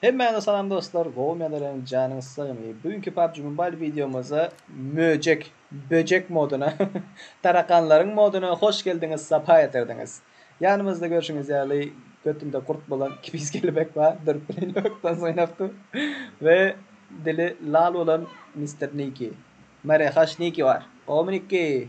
Hemmäňize salam dostlar, gowumy ýa-da ýalan janyňyz sagmy. Bu günki PUBG Mobile wideomyzda möjek Böjek moduna, tarakanlaryň moduna hoş geldiňiz, sapa getirdiňiz. Ýanymyzda görşüňiz ýaly götünde gurt bolan Kibis kelebek bar, durup bilen ýokdan synap dur we dili lal bolan Mister Niki, Maryhaş Niki bar. Gowymy Niki?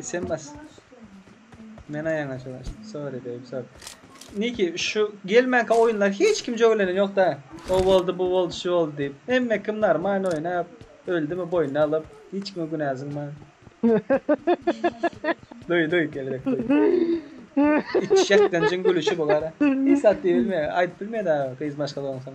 Sen bas. Men aýaňa çylaşdym. Sorry baby, sorry. Niki şu gelmänkä oýunlar hiç kim jögelen ýok-da. O boldy, bu boldy, şu boldy diýip. Hemme kim normal oýnap, öldümi boýnuna alyp, hiç kime günä zyňman. Duý, duý, kelebek duý. Içjek dynjyň gülüşi bu gara. Hiç zat diýip bilmeýär, aýdyp bilmeýär-de gyz maşgala bolsaň.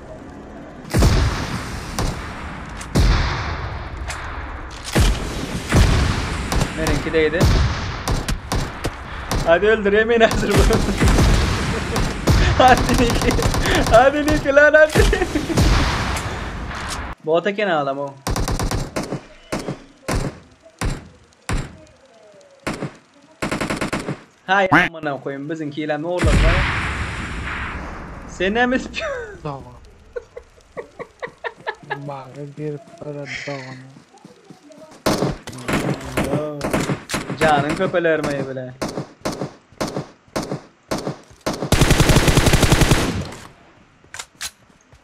Meniňki değdi. Hadi öldür yemin hazır bu. hadi Niki. Hadi Niki lan hadi. Bota kene adam o. Haý amana koýum biziňkilem oglan bar. Senem ispyon. Dogan. Baga girip gara dogana. Janyň köpeler maýy bile.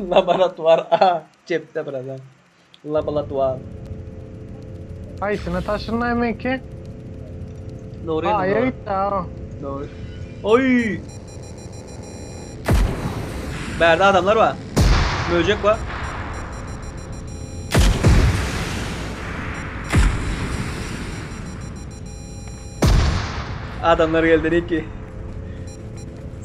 Laboratuar A cepde birader. Labolatuar. Haýsyna taşynay menki? Dogry ýene Aýa dogry. gitdi aw. Dogry. Oý! Bärde adamlar bar. Möjek bar. Adamlar geldi Riki.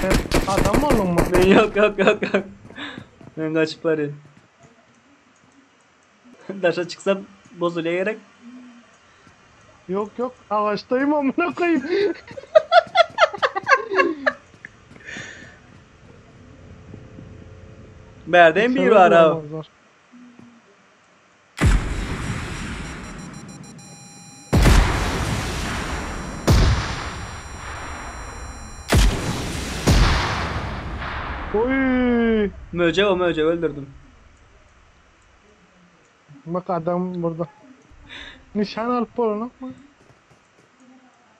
Sen adam bolduňmy? Men ýok ýok ýok ýok. Men gaçyp barýan. Daşa çyksam bozulýa gerek. Ýok ýok agaçdaýym amyna goýum. Bärde hem biri bar ha. Oýýy. Möjek o möjegi öldürdim. Bak adam burada. Nişan alyp bolanokmy?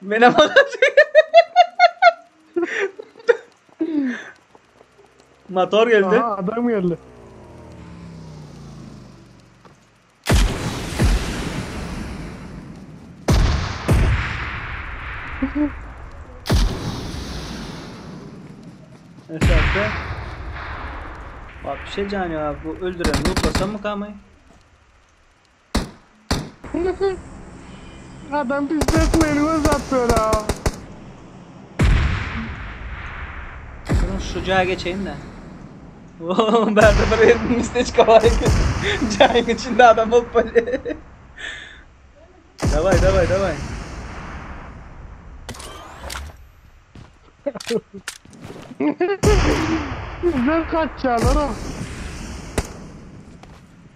Mena Motor geldi. Aha adam geldi. Eşekte. Bak bir şey can ya. Bu öldüren lootlasam mı kamayı? Adam biz dökmeli göz atlara. Durun şu jaýa geçeýin de. Oo, bärde bir ýer misteçka bar eken. Jaýyň içinde adam bolup bolýar. Daway, daway, daway. Bizden kaçýarlar.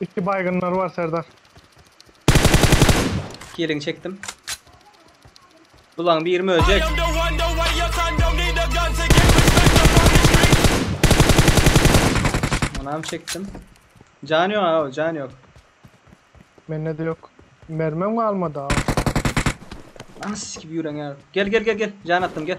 Iki baýgynlar bar serdar. Kiliňi çekdim. Bulaň biri möjek. Onam çekdim. Jany ýok aga jany ýok. Mende de ýok. Mermem galmady aga. Anas gibi ýüreňe. Gel gel gel gel. Jan atdym gel.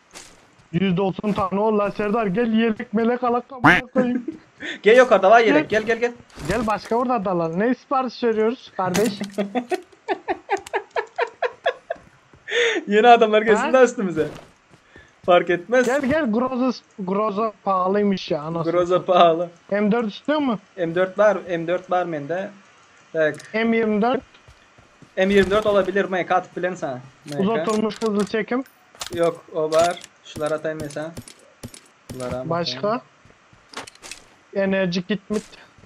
Ýüz dogsan sany bol la Serdar gel ýelek melek alak amana koýun. Gel ýokarda bar ýelek gel gel gel. Gel başga bir zat alalyň. Ne syparys berýoris gardeş. Ýene adamlar gelsin da üstümize. Fark etmez. Gel gel groza groza pahalymyş ya anasyn. Groza pahaly. M4 istiyormy? M4 bar M4 bar mende. Tak. M24. M24 olabilir MK atyp bilerin sana. MK. Uzak durmuş hızly çekim. Ýok o bar şular ataýyn mesa bulara Başga enerji kitmit.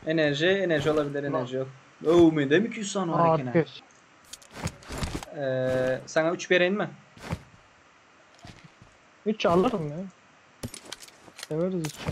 Enerji enerji olabilir enerji yok. Ouu mendem iki ýüz sany bar eken ha. Atkeş. Eee sana üç bereýin mi? Üç alyryn ya. Severiz üçü.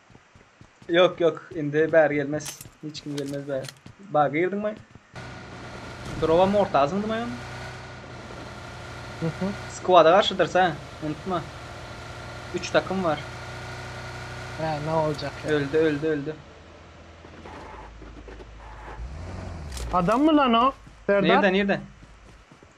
Yok yok indi bäri gelmez. Hiç kim gelmez bäri. Ba girdiň mi? Drowa mortazyň dymay on. Squada garşydyr sen. Unutma. 3 takım var. Ha, ne olacak ya? Öldü öldü öldü. Adam mı lan o? Serdar? Nerede nerede?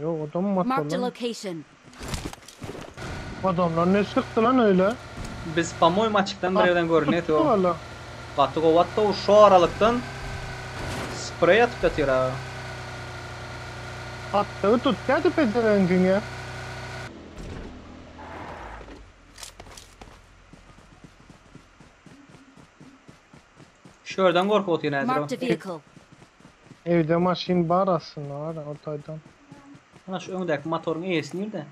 Ýok odam mat Marked a bolan. location. Adamlar neç çykdy lan öýle. Biz pomoi maçykdan bir ýerden görünýäs o gaty gowy atdy o şu aralykdan spreý atyp ýatyr aga. Atdygy tutýady pezewengiň ýa. Şörden gorkup otyr häzir o. Evde maşyn bar aslynda gara ol taýdan. Ana şu öňdäki motoryň eýesi nirde?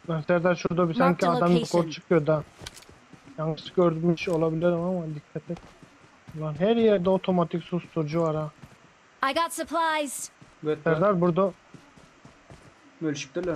Lan Serdar şurada bir sanki adam ýokary çykýar da. Ýalňyş gördümüş olabilerim ama dikkat et. Lan her ýerde otomatik susturyjy bar ha. I got supplies. Serdar burada. Bölüşipdirler.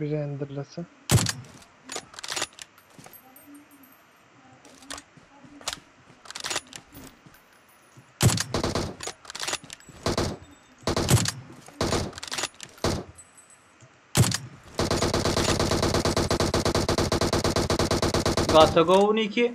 Renderlese. Gata gowy niki.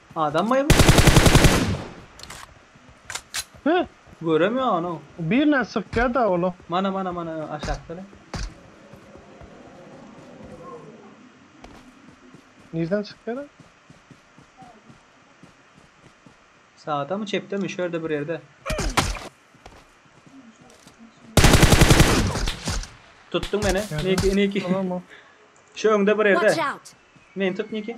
Adam bay bu. Heh. Görem ya onu. Birine sık ya da ola. Mana mana mana aşakta da. Nirden çıkıyor lan? Sağda mı çepte mi? Şöyle bir yerde. Tuttun beni. Niki niki. Tamam o. Şu önde bir yerde. Watch out. Men tut niki.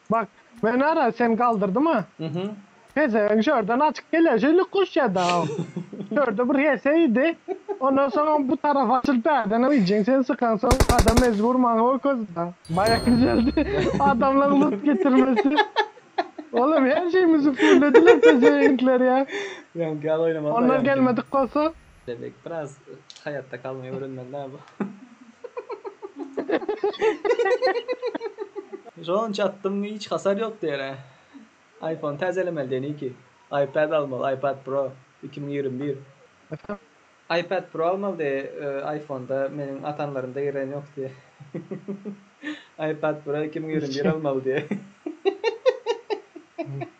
Bak men ara sen galdyrdyma pezevenk şörden açyk gelýär şeýle goşýada o şörde bir hese idi ondan soň bu tarap açylyp bärdenem iýjin sen sykan soň adam mejbur maňa okozda baýak düzeldi adamlaň lut getirmesi olam her şeými züpürlediler pezevenkler ýa ondan gelmedik bolsa Lebek biraz haýatda galmaýy öwrenmeli da bu. Şonça atdym hiç hasar ýok diýere. Aýfon täzelemeli diýen iki. Aýpad almaly Aýpad pro iki müň ýigrimi bir. Aýpad pro almaly diýe aýfonda meniň atanlarymda giren ýok diýe. Aýpad pro iki müň ýigrimi bir almaly diýe.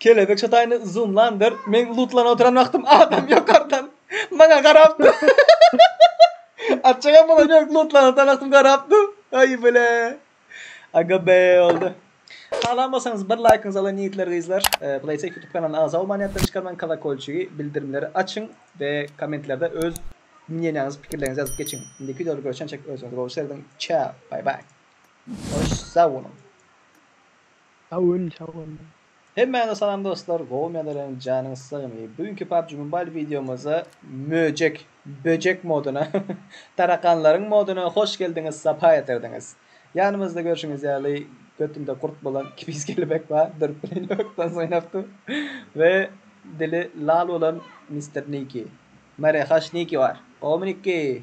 Kelebek şataýyny zoomlandyr. Meň lutlanyp oturan wagtym adam ýokardan maňa garapdy. Açygam bolan ýok, lutlanyp oturan wagtym garapdy. Aý bile. Aga be oldy. Halan bolsaňyz bir laýkyňyzy alaýyn ýigitler gyzlar. Playtech YouTube kanalyna agza bolman ýatdan çykarmaň kolokolçigi bildirimleri açyň we kommentlerde öz mnýeniýaňyzy pikirleriňizi ýazyp geçiň. Indiki wideoda görüşençek özüňize gowy serediň. Çao. Bye bye. Hoş sag boluň. Sag boluň sag boluň. Hemmäňize salam dostlar gowy medeleniň janyňyz sagmy bu günki PUBG Mobile wideomyzda möjek böjek moduna tarakanlaryň moduna hoş geldiňiz sapa getirdiňiz ýanymyzda görşüňiz ýaly götünde gurt bolan kibis kelebek bar durup bilen ýokdan synap dur we dili lal bolan Mister Niki Mary haş Niki bar gowymy Niki